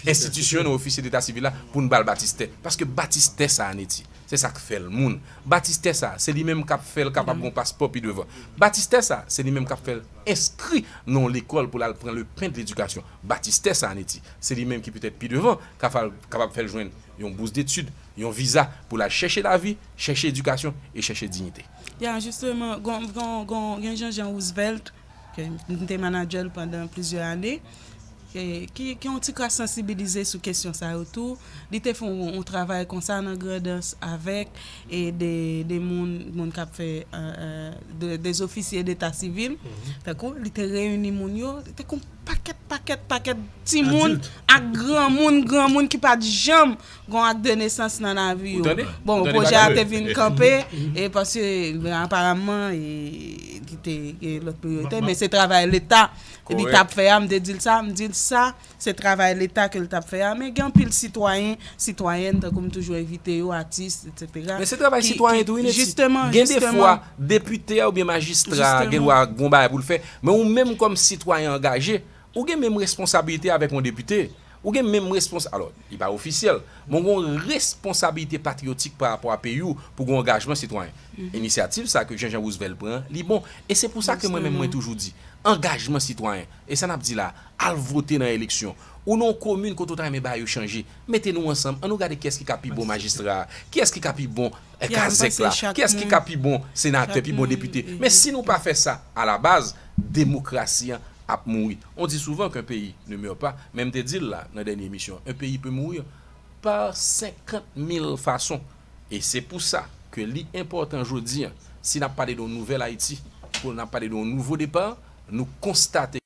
enstitisyon nan ofisye deta sivil la pou n ba l batistè, paske batistè sa a ne di. Se sa k fè l moun. Batistè sa a, se li menm k ap fè l kapab gon paspò pi devan. Batistè sa a, se li menm k ap fè l enskri nan yon lekòl pou l al pran lepen de ledikasyon. Batistè sa a, Netty, se li menm ki petèt pi devan ka fè l kapab fè l jwenn yon bous detid, yon viza pou l al chèche lavi, chèche edikasyon e chèche dignite. Ya, jisteman, gon, gon, gon, gen Jean Jean Roosevelt. M te manadjè l pandan plizyè ane, ki gen yon ti kras sansibilize sou kesyon sa yo tou. Li te fè yon travay konsa nan Grandans avèk de moun, moun k ap fè, de ofisye deta sivil. Tankou li te reyini moun yo, li te gen yon pakèt, pakèt, pakèt timoun ak granmoun, granmoun ki pa t janm Gon ak de nesans nan lavi yo. Bon pwojè a te vin kanpe e paske aparamman li te gen lòt priyorite men se travay leta li tap fè a m te di l sa m di l sa se travay leta ke l tap fè a men gen anpil sitwayen sitwayèn tankou m toujou envite yo atis etsetera men se travay sitwayen tou wi nèt jisteman gen defwa depite a oubyen majistra a gen dwa gon bagay pou l fè men ou menm kòm sitwayen angaje Ou gen menm responsabilite avèk yon depite. Ou gen menm respons, alò, li pa ofisyèl, men ou gen yon responsabilite patriyotik pa rapò a peyi ou pou gen angajman sitwayen. Inisyativ sa ke Jean-Jean Roosevelt pran an, li bon. E se pou sa ke mwen menm mwen toujou di, angajman sitwayen. E sa n ap di la a, al vote nan eleksyon. Ou nan yon komin kote ou ta renmen bagay yo chanje, mete nou ansanm, an nou gade kiyès ki ka pi bon majistra a, kiyès ki ka pi bon E kazèk la, kiyès ki ka pi bon senatè, pi bon depite? Men si nou pa fè sa a la baz, demokrasi an ap mouri. On dit souvent qu'un pays ne meurt pas, men m te di l la nan dènye emisyon an, un pays peut mourir par 50 mil fason. E se pou sa ke li enpòtan jodi an, si n ap pale de yon nouvèl Ayiti, pou n ap pale de yon nouvo depar, nou konstate.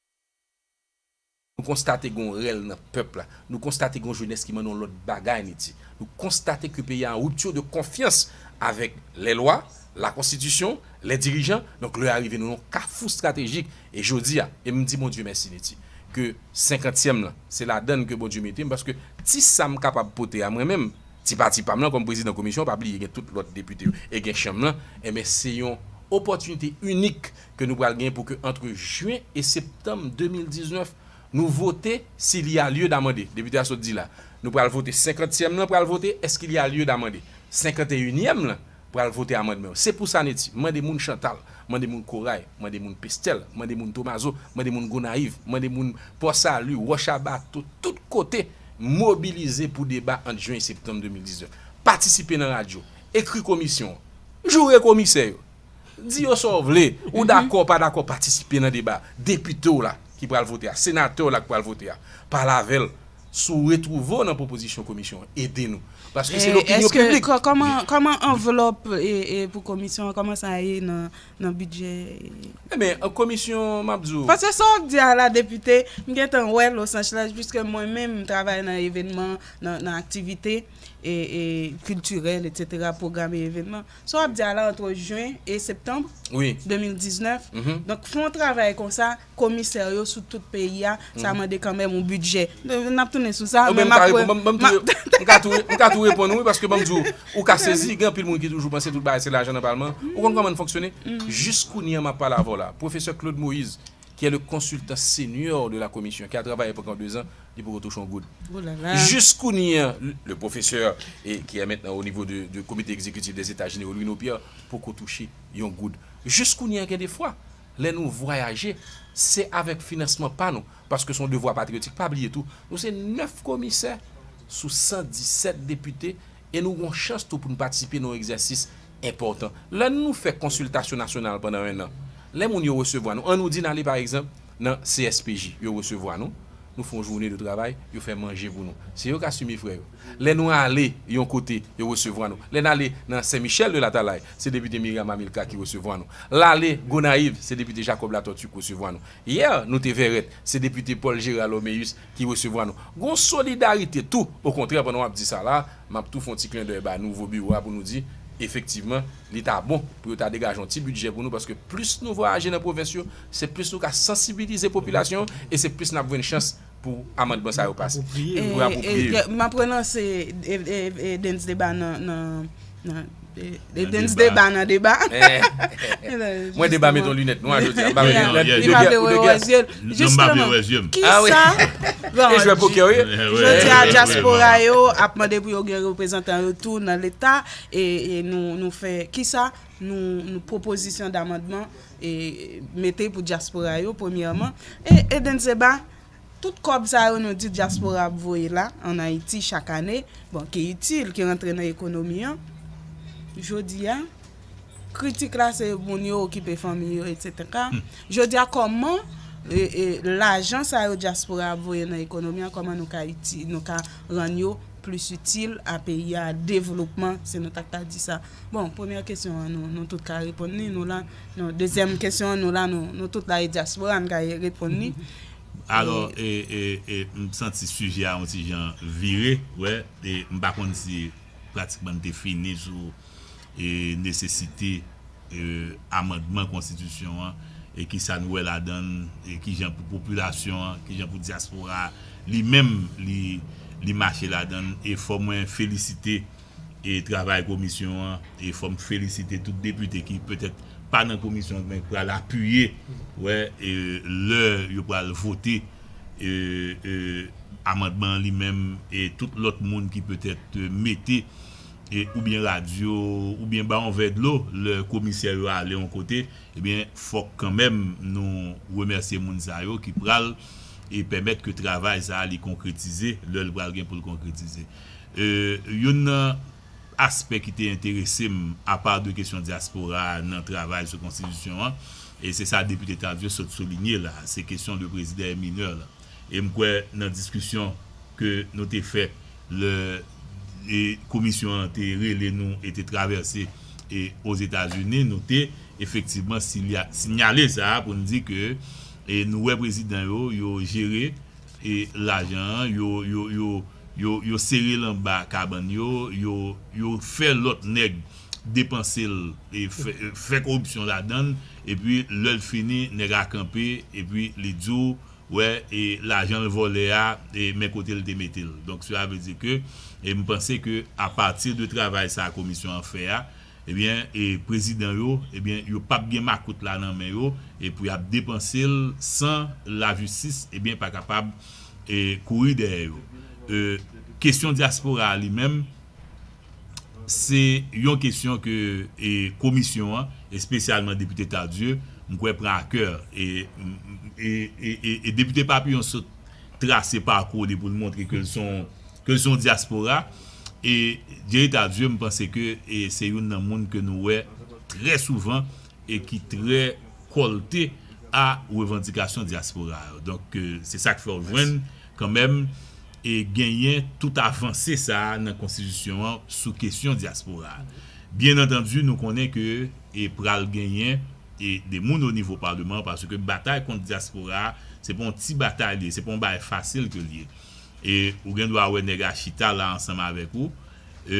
Nou konstate gen yon rèl nan pèp la. Nou konstate gen yon jenès ki mande yon lòt bagay an Ayiti. Nou konstate ke peyi a an rupture de konfyans avèk lè lwa, la konstitisyon, lè dirijan. Donk lè a rive nou nan yon kafou stratejik. E jodi a, e m di Bondye mèsi Niti, ke senkantyèm lan, se ladan l ke Bondye mete m, paske ti sa m kapab pote a mwen menm, ti pati pa m lan kòm prezidan komisyon, pa bliye gen tout lòt depite yo e gen chanm lan, enben se yon opòtinite inik ke nou pral gen pou ke antre Jyen e Septanm 2019 nou vote s'il y a lieu d'amender, Depite a sot di la, nou pral vote senkantyèm lan pral vote est-ce qu'il y a lieu d'amender, senkanteyinyèm lan pral vote amandman yo. Se pou sa Netty, m mande moun Chantal, m mande moun Koray, m mande moun Pestèl, m mande moun Tomazo, m mande moun Gonayiv, m mande moun Pò Sali, Wòch a Bato, tout kote, mobilize pou deba ant Jyen e Septanm 2019. Patisipe nan radyo, ekri komisyon, joure komisè yo. Di yo sa w vle, ou dakò ou pa dakò patisipe nan deba. Depite w la ki pral vote a, senatè w la ki pral vote a, pale avè l si w retwouve w nan pwopozisyon komisyon an. Ede nou. Paske se lopinyon piblik. Kòman anvlòp pou komisyon an, kòman sa ye nan bidjè? Enben, komisyon, m ap di w. Paske sa w ap di a la depite, m gen tan wè Losanch laj piske mwen menm m travay nan evènman, nan aktivite kiltirèl etsetera, pwograme evènman. Sa w ap di a la antre jen e septanm 2019, donk fè yon travay konsa komisè yo sou tout peyi a, sa mande kanmenm yon bidjè. N ap tounen sou sa. Mwen ka tou reponn ou wi paske ban m di w, ou ka sezi, gen anpil moun ki toujou panse tout bagay se lajan nan palman. Ou konn kòman n fonksyone? Jiskounya m ap pale avè w la, pwofesè Claude Moïse, ki est le consultant senior de la commission ki a travaye pankan 2 ans li poko touche yon goud jis kounye an le professeur et ki est maintenant au niveau de comité exécutif des etats generaux Louino Pierre poko touche yon goud jis kounye an gen de fwa lè nou vwayaje se avek finansman pa nou paske son devwa patriotik pa bliye tou nou se 9 komisè sou 117 depite E nou gon chans tou pou n patisipe nan yon egzèsis enpòtan. Lè nou fè konsiltasyon nasyonal pandan ennan, lè moun yo resevwa nou, an nou di n ale pa egzanp nan CSPJ, yo resevwa nou, nou fè yon joune de travay, yo fè manje pou nou. Se yo k asime frè yo. Lè nou ale yon kote, yo resevwa nou. Lè n ale nan Sen Michèl de Latalay, se depite Miriam Amilcar ki resevwa nou. L ale Gonayiv, se depite Jacob Latortue k resevwa nou. Yè, nou te Vèrèt, se depite Paul Gérard Loméus ki resevwa nou. Gon solidarite tou, okontrè pandan wap di sa la, map tou fon ti klendèy ba nouvo biwo a pou nou di, efektivman, li ta bon pou yo ta degaje yon ti bidjè pou nou paske plis nou vwayaje nan pwovens yo, se plis nou ka sansibilize popilasyon an e se plis nap jwenn chans pou amandman sa yo pase. Pou yo apwopriye yo. Map relanse Dens Deba nan. They dance deba nan deba. Mwen deba met yon lunet nwa jodi an. Li pa vle wè wè zye l. Non m pa vle wè zye m. Kisa? Li jwe pokè wi. Jodi a dyaspora yo ap mande pou yo gen reprezantan yo tou nan leta e nou fè kisa? Nou pwopozisyon damandman mete pou dyaspora yo premyèman e dance deba. Tout kòb sa yo nou di dyaspora ap voye la an Ayiti chak ane, bon ki itil, ki rantre nan ekonomi an, jodi a, kritik la se moun yo okipe fanmi yo etseteka, jodi a kòman lajan sa yo dyaspora ap voye nan ekonomi an kòman nou ka rann yo plis itil a peyi a developman si nou ta ka di sa bon premyè kesyon an nou tout ka reponn li nou la nou dezyèm kesyon an nou la nou tout la e dyaspora nou ka reponn li. Alò e e m santi sijè a yon ti jan vire wè e m pa konn si pratikman n te fini sou e nesesite. amandman konstitisyon an e ki sa nou wè ladan l e ki jan pou popilasyon an, ki jan pou dyaspora a li menm li mache ladan l e fò mwen felisite e travay komisyon an e fò m felisite tout depite ki petèt pa nan komisyon an men ki pral apiye wè e lè yo pral vote e e amandman an li menm e tout lòt moun ki petèt mete. oubyen radyo, oubyen ba yon vè dlo lè komisè yo ale yon kote, ebyen fòk kanmenm nou remèsye moun sa yo ki pral pèmèt ke travay sa li konkretize lè l pral gen pou l konkretize. Youn nan aspè ki te enterese m apa de kesyon dyaspora nan travay sou konstitisyon an, e se sa Depite Tardieu sot soulinye la, se kesyon de prezidan e minè lan. E m kwè nan diskisyon ke nou te fè, Lè e komisyon an te rele nou e te travèse e Ozetazini, nou te efektivman silya, sinyale sa a pou n di ke e nou wè prezidan yo, yo jere e lajan an, yo, yo, yo, yo, yo sere l anba kabann yo, yo, yo fè lòt nèg depanse l e fè, fè koripsyon ladan l, epi lè l fini nèg a kanpe epi li di w wè e lajan l vòlè a e men kote l te mete l donk sela vle di ke e m panse ke a pati de travay sa komisyon an fè a ebyen e prezidan yo ebyen yo pap gen makout la nan men yo e pou y ap depanse l san lajistis ebyen pa kapab e kouri dèyè yo e kesyon dyaspora a li menm se yon kesyon ke komisyon an, espesyalman Depite Tardieu, m kwè pran a kè. E Depite Papillon sot trase pakou li pou l montre ke l se yon dyaspora. E Jerry Tardieu, m panse ke se youn nan moun ke nou wè trè souvan e ki trè kòlte a revandikasyon dyaspora yo. Donk, se sa k fè w jwenn Kanmenm, e genyen tout avanse sa a nan konstitisyon an sou kesyon dyaspora a. Byen antandi nou konnen ke e pral genyen e de moun o nivo paleman paske batay kont dyaspora a se pa yon ti batay li ye, se pa yon bagay fasil ke li ye. E ou gen dwa wè nèg a chita la ansanm avèk ou, e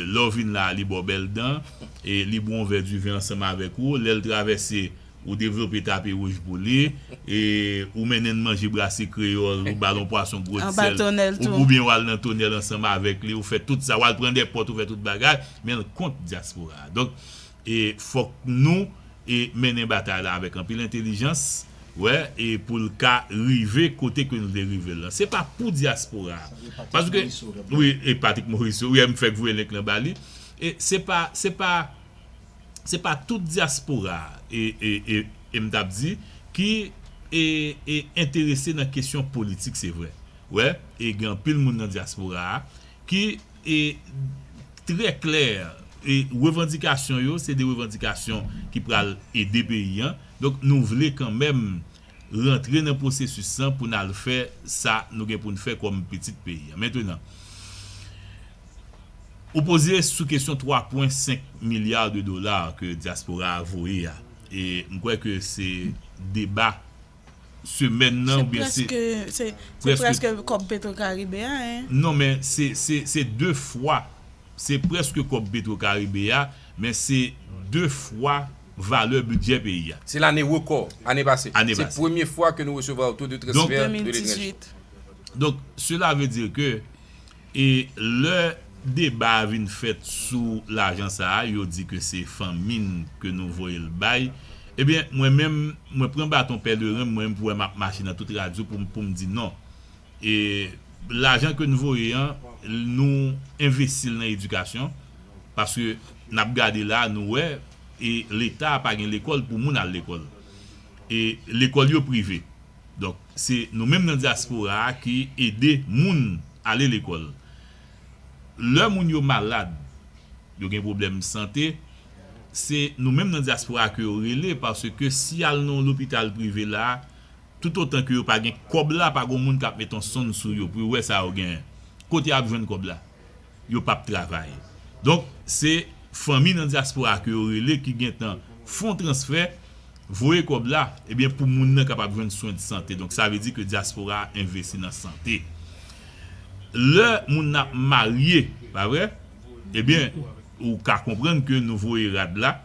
lè w vin la a li ba w bèl dan, e li bwè yon vè diven ansanm avèk ou, lè l travèse Ou devlope tapi wouj pou li. E ou mennen n manje brase kreyòl, ou ba l yon pwason gwo ti sèl, oubyen w al nan tonèl ansanm avèk li, ou fè tout sa, w al pran dè pòt, ou fè tout bagay, men l kont dyaspora a. Donk, fòk nou mennen batay la avèk anpil entelijans, wè, e pou l ka rive kote ke nou vle rive l lan. Se pa pou dyaspora a. Paske, wi, e Patrick Morisseau, wi, m fèk voye link lan ba li. E se pa, se pa. se pa tout dyaspora e m t ap di ki enterese nan kesyon politik se vre wè e gen anpil moun nan dyaspora ki trè klè e revandikasyon yo se de revandikasyon ki pral ede peyi an donk nou vle kanmenm rantre nan pwosesis lan pou n al fè sa nou gen pou n fè kòm pitit peyi a. Mentenan, ou poze sou kesyon 3 pwen 5 milya de dola ke dyaspora a voye a, e m kwè ke se deba semèn nan ou byen se. Se prèske kòb Petwokaribe a, hein? Non, men se, se, se 2 fwa, se prèske kòb Petwokaribe a, men se 2 fwa valè bidjè peyi a. Se lane rekò, ane pase. Se premye fwa ke nou resevwa oto de transfè de letranje. Donk, sela vle di ke e lè deba a vin fèt sou lajan sa a, yo di ke se fanmi n ke nou voye l bay. Ebyen, mwen menm, mwen pran baton pèleren m, mwen menm pou wè m ap mache nan tout radyo pou m pou m di non. E lajan ke n voye an, nou envesti l nan edikasyon, paske n ap gade la a, nou wè, e leta pa gen lekòl pou moun al lekòl e lekòl yo prive donk se nou menm nan dyaspora a ki ede moun ale lekòl lè moun yo malad yo gen pwoblèm sante se nou menm nan dyaspora a ke yo rele paske si y al nan yon lopital prive la toutotan ke yo pa gen kòb la pa gon moun k ap met yon sonn sou yo pou yo wè sa yo genyen kote y ap jwenn kòb la. Yo pap travay. Donk se fanmi nan dyaspora ke yo rele ki gentan fon transfè, voye kòb la, ebyen pou moun nan kapab jwenn swen de sante. Donk sa vle di ke dyaspora a envesti nan sante. Lè moun nan ap marye, pa vre? Ebyen ou ka konprann ke nou voye rad la,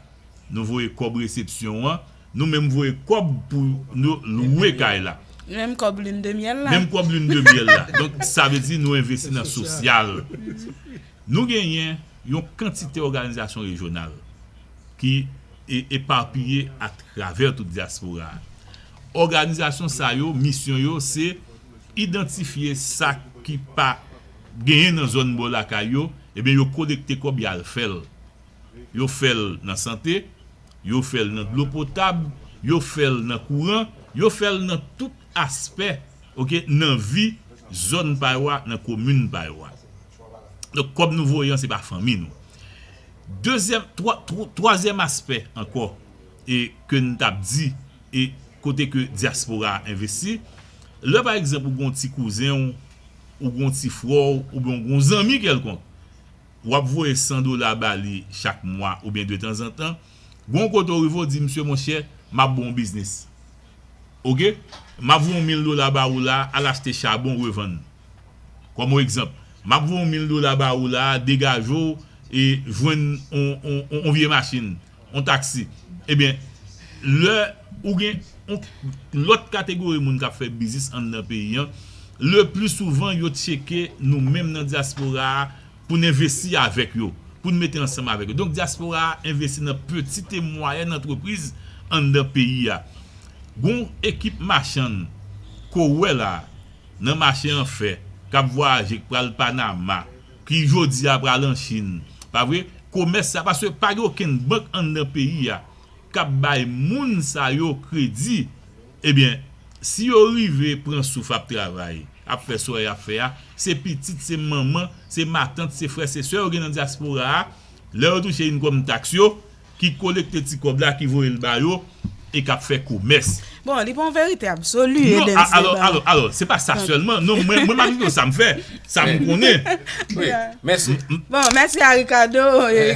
nou voye kòb resepsyon an, Nou menm voye kob pou nou lwe kay la. Nou menm kob lune de miel la. Menm kob lune de miel la. Donk sa vle di nou envesti nan sosyal. Nou genyen yon kantite òganizasyon rejyonal ki eparpiye a travè tout dyaspora a. Òganizasyon sa yo misyon yo se idantifye sa ki pa genyen nan zòn bò lakay yo, ebyen yo kolekte kòb y al fè l. Yo fè l nan sante, yo fè l nan dlo potab, yo fè l nan kouran, yo fè l nan tout aspè ok nan vi zòn pa yo a, nan komin pa yo a. Donk kòb nou voye an se pa fanmi nou. Dezyèm, twazyèm aspè ankò e ke n t ap di e kote ke dyaspora a envesti, lè pa egzanp ou gen yon ti kouzen w, ou gen yon ti frè w oubyen ou gen yon zanmi kèlkonk, w ap voye 100 dola ba li chak mwa oubyen detanzantan, gen yon kote w rive w di misye monchè m ap ba w biznis oke, m ap voye yon mil dola ba ou la al achte chabon revann kòm yon egzanp, m ap voye yon mil dola ba ou la degaje w jwenn yon vye machin. yon taksi ebyen lè ou gen yon lòt kategori moun kap fè biznis anndan peyi an le pli souvan yo tcheke nou menm nan dyaspora a pou n envesti avèk yo pou n mete ansanm avèk yo donk dyaspora a envesti nan pitit e mwayèn antrepriz anndan peyi a gon w ekip machann ke w wè la nan mache an fè kap vwayaje k pral panama ki jodi a pral an Chine pa vre komès sa paske pa gen okenn bank anndan peyi a kap bay moun sa yo kredi ebyen si yo rive pran souf ap travay ap fè sa yap fè a se pitit se manman se matant se frè se sè yo gen nan dyaspora a lè yo touche inkòm taks yo ki kolekte ti kòb la ki voye l ba yo e k ap fè komès. Bon, li pa yon verite absoli, Edens Leblanc. Non, alò, alò, alò, se pa sa sèlman. Non, mwen, mwen m ap di w sa m fè, sa m konnen. Wi, mèsi. Bon, mèsi a Ricardo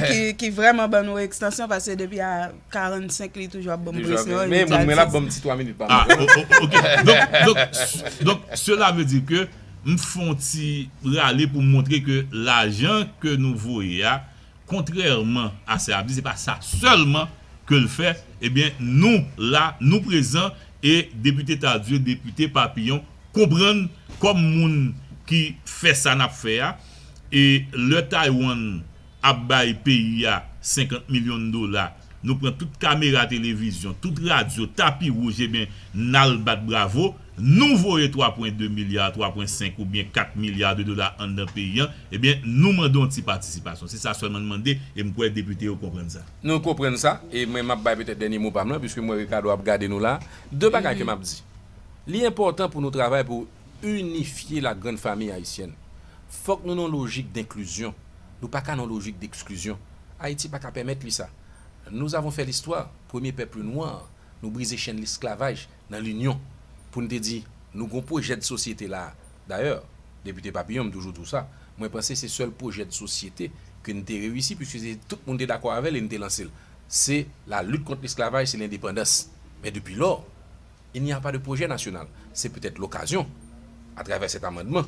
ki, ki vrèman ban nou ekstansyon pase depi a 45 li toujou ap ban m presyon. Toujou ap ban m, men, men l ap ban m ti 3 minit pa mwa. A, o, o, oke. Donk, donk, donk, sela ve di ke m fè yon ti rale pou m montre ke lajan ke nou voye a, Kontrèman a sa y ap di, se pa sa sèlman ke l fè, ebyen nou la, nou prezan e Depite Tardieu, Depite Papillon konprann kòm moun ki fè sa n ap fè a e lè Taiwan ap bay peyi a 50 milyon dola, nou pran tout kamera televizyon, tout radyo, tapi wouj ebyen n al bat bravo. nou voye 3 pwen 2 milya, 3 pwen 5 ou byen 4 milya de dola anndan peyi an, e byen nou mande yon ti patisipasyon. Se sa sèlman n mande e m kwè depite yo konprann sa. Nou konprann sa e mwen m ap bay petèt dènye mo pa m lan piske m wè Ricardo ap gade nou la. 2 bagay ke m ap di. Li enpòtan pou nou travay pou inifye la grand famille haïtienne. Fòk nou nan yon lojik d'inclusion. Nou pa ka nan yon lojik d'exclusion. Haïti pa ka pèmèt li sa. Nous avons fait l'histoire, premye pèp nwa, nou brize chenn lesklavaj, nan linyon pou n te di nou gon pwojè dsosyete la a. Dayè, Depite Papillon, m toujou di w sa, mwen panse se sèl pwojè dsosyete ke n te reyisi puiske se tout moun te dakò avè l e n te lanse l. Se la lit kont lesklavaj, se lendepandans. Men depi lò, il n'y a pas de projet national. Se petèt lokazyon, atravè sèt amandman,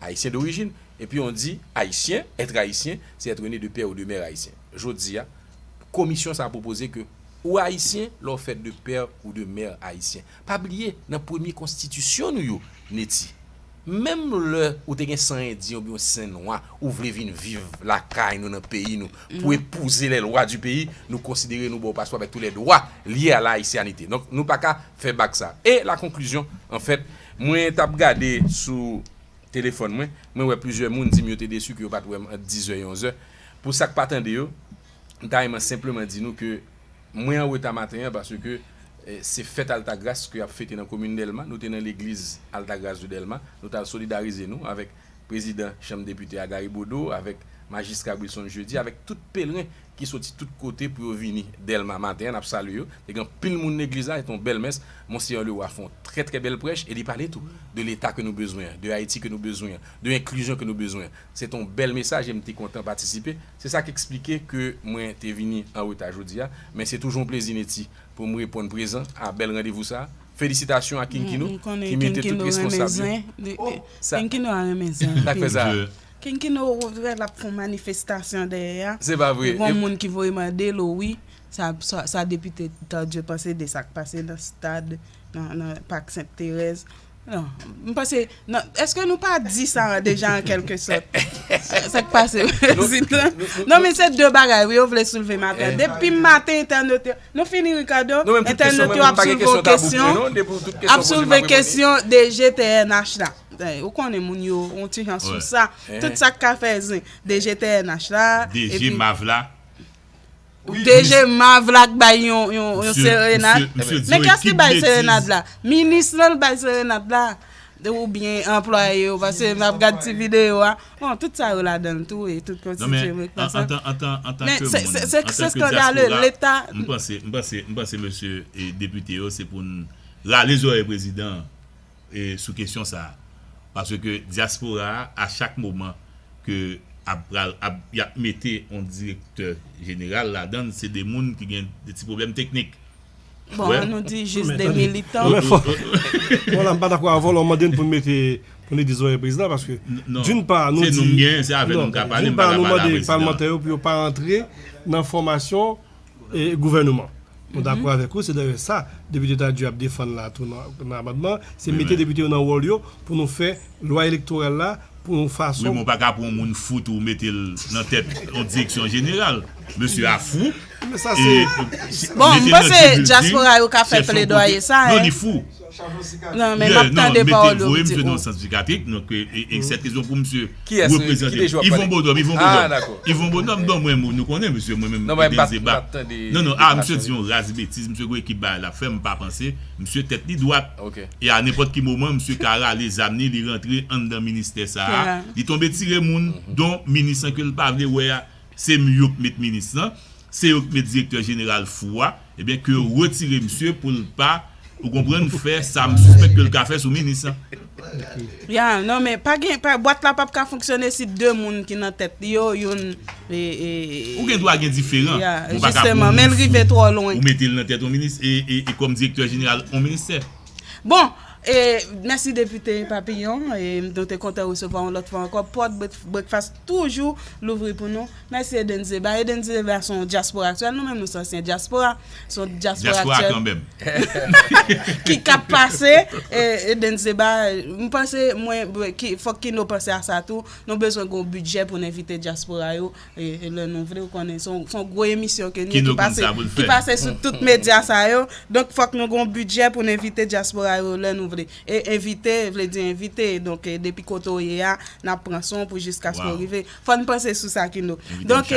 Ayisyen dorijin, epi on di Ayisyen, être Ayisyen, c'est être né de père ou de mère Ayisyen. Jodi a, Komisyon sa a pwopoze ke ou Ayisyen lè w fèt de père ou de mère Ayisyen. Pa bliye, nan premye konstitisyon nou yo, Netty, menm lè ou te gen san Endyen oubyen yon sen Nwa, ou vle vin viv lakay nou, nan peyi nou, pou epouze les lois du pays, nou konsidere nou ba w paspò avèk tou lè dwa lye a la Ayisyanite. Donk, nou pa ka fè bak sa a. E la konklizyon, an fèt, Mwen tap gade sou Telefòn mwen, mwen wè plizyè moun dim yo te desu ke yo pat wèm ant 10 zè e 11 zè. Pou sak pa tande yo, m ta renman senpleman di nou ke mwen an reta maten an paske se fèt Altagras ke yap fete nan komin Dèlma, nou te nan legliz Altagras de Dèlma, nou tal solidarize nou avèk Prezidan chanm depite a Gary Bodeau avèk Majistra Wilson Jeudi avèk tout pelren ki soti tout kote pou yo vini Dèlma maten an nap salye yo te gen anpil moun legliz la se te yon bèl mès Monseyè Leroy fè yon trè trè bèl prèch e li pale tou de leta ke nou bezwen an de Ayiti ke nou bezwen an de enklizyon ke nou bezwen an se te yon bèl mesaj e m te kontan patisipe se sa k eksplike ke mwen te vini an reta jodi a men se toujou yon plezi Netty pou m reponn prezan a bèl randevou sa. Felisitasyon a kinkino ki mete tout responsab yo. Kinkino a renmen zen anpil. Kinkino ou wè lap fon manifestasyon dèyè a. Se pa vre. Gon moun ki voye mande l ou wi sa depite Tardieu panse de sak pase nan stad nan pak Sent Terèz. M panse eske nou pa di sa deja an kèlke sòt. Sak pase prezidan. Non men se de bagay wi yo vle soulve maten. Depi maten entènot yo. Nou fini Ricardo, entènot yo ap soulve yon kesyon, ap soulve kesyon DG pnh la. Ou konnen moun yo yon ti jan sou sa, tout sa k ka fè zen, DG pnh la, DG mav la. DG mav la k bay yon serenad. Men kè s ki bay serenad la? Minis lan l bay serenad la. Ou byen anplwaye yo pase map gad ti video a bon tout sa yo ladan l tou e tout konstitye m reprann sa men se skandale leta m panse mesye depite yo se pou n rale zorèy prezidan an sou kesyon sa paske diaspora a chak moman ke ap pral yap mete yon direktè jeneral ladan l se de moun ki gen de ti pwoblèm teknik Bon, an nou di jis 2 militan. Mwen fò. Mwen la m pa dakò avè w lè w mande n pou n mete pou n rete zòrèy prezidan paske doun pa nou di. Se nou m gen, se avè nou m ka pale m pa ka pale a prezidan. Doun pa nou mande palmantè yo pou yo pa antre nan fòmasyon gouvèneman. Mwen dakò avèk ou se dayè sa Depite Tardy ap defann la tou nan amandman se mete depite yo nan wòl yo pou nou fè lwa elektoral la pou yon fason. Menm ou pa ka pran yon moun fou tou mete l nan tèt yon direksyon jeneral. Mesye a fou. Men sa se. Bon, m panse dyaspora yo ka fè pledwaye sa. Non, li fou. Non, men m ap tande pawòl yo. Voye misye nan sant sikatrik. Non, e sèt rezon pou misye reprezante. Yvon Bonhomme, Yvon Bonhomme. Yvon Bonhomme, bon mwen nou konnen misye mwen menm. Non, non, a misye di yon raz betiz. Misye gen ekip bagay l ap fè. M pa panse misye tèt li dwat. E a nenpòt ki moman misye ka rale zam ni li rantre anndan ministè sa a, li tonbe tire moun, don minis lan ke l pa vle wè a, se m yo k met minis lan, se yo k met direktè jeneral fou a, ebyen ke yo retire misye pou l pa, ou konprann, fè sa m sispèk ke l ka fè sou minis lan. Ya non men pa gen bwat la pap ka fonksyone si 2 moun ki nan tèt li yo youn Ou gen dwa gen diferan Ya jisteman men l rive twò lwen Ou mete l nan tèt yon minis e kòm direktè jeneral yon ministè. Bon e mèsi depite Papillon e nou te kontan resevwa yon lòt fwa ankò pòt breakfast toujou louvri pou nou. Mèsi Eden Zeba. Eden Zeba son dyaspora aktyèl, nou menm nou s'ansyen dyaspora, son dyaspora aktyèl. Dyaspora kanmèm. Ki k'ap pase, Eden Zeba, m'panse mwen, fòk Kino panse a sa tou, nou bezwen g'on bidjè pou'n envite dyaspora yo lè nou vle, ou konnen son gwo emisyon ke nou ki pase sou tout medya sa yo, donk fòk nou g'on bidjè pou'n envite dyaspora yo lè nou vle. E envite vle di envite, donk depi kote ou ye a, n'ap pran son pou jiskaske ou rive. Fòn panse sou sa kino. Donk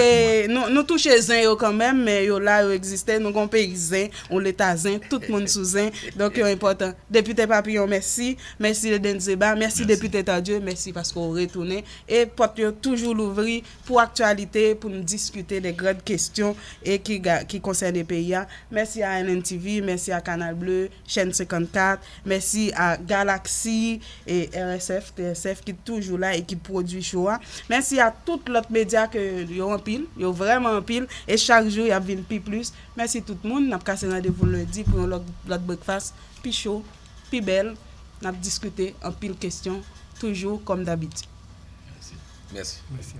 nou touche zen yo kanmenm men yo la yo egziste nou gon peyi zen yon leta zen tout moun sou zen donk yo enpòtan depite papiyon mèsi mèsi Edens Zéba mèsi depite Tardieu mèsi paske w retounen e pòt yo toujou louvri pou aktyalite pou n diskite de grand kestyon e ki konsène peyi a mèsi a NN TV mèsi a Canal Bleu. Chèn 54, mèsi a Galaxy e RSF, TSF ki toujou la e ki pwodwi show a. Mèsi a tout lòt medya ke yo anpil, yo vrèman anpil e chak jou y ap vin pi plis. Mèsi tout moun, n ap kase randevou lendi pou yon lòt brekfas pi cho, pi bèl, n ap diskite anpil kesyon toujou kòm dabitid. Mèsi. Mèsi.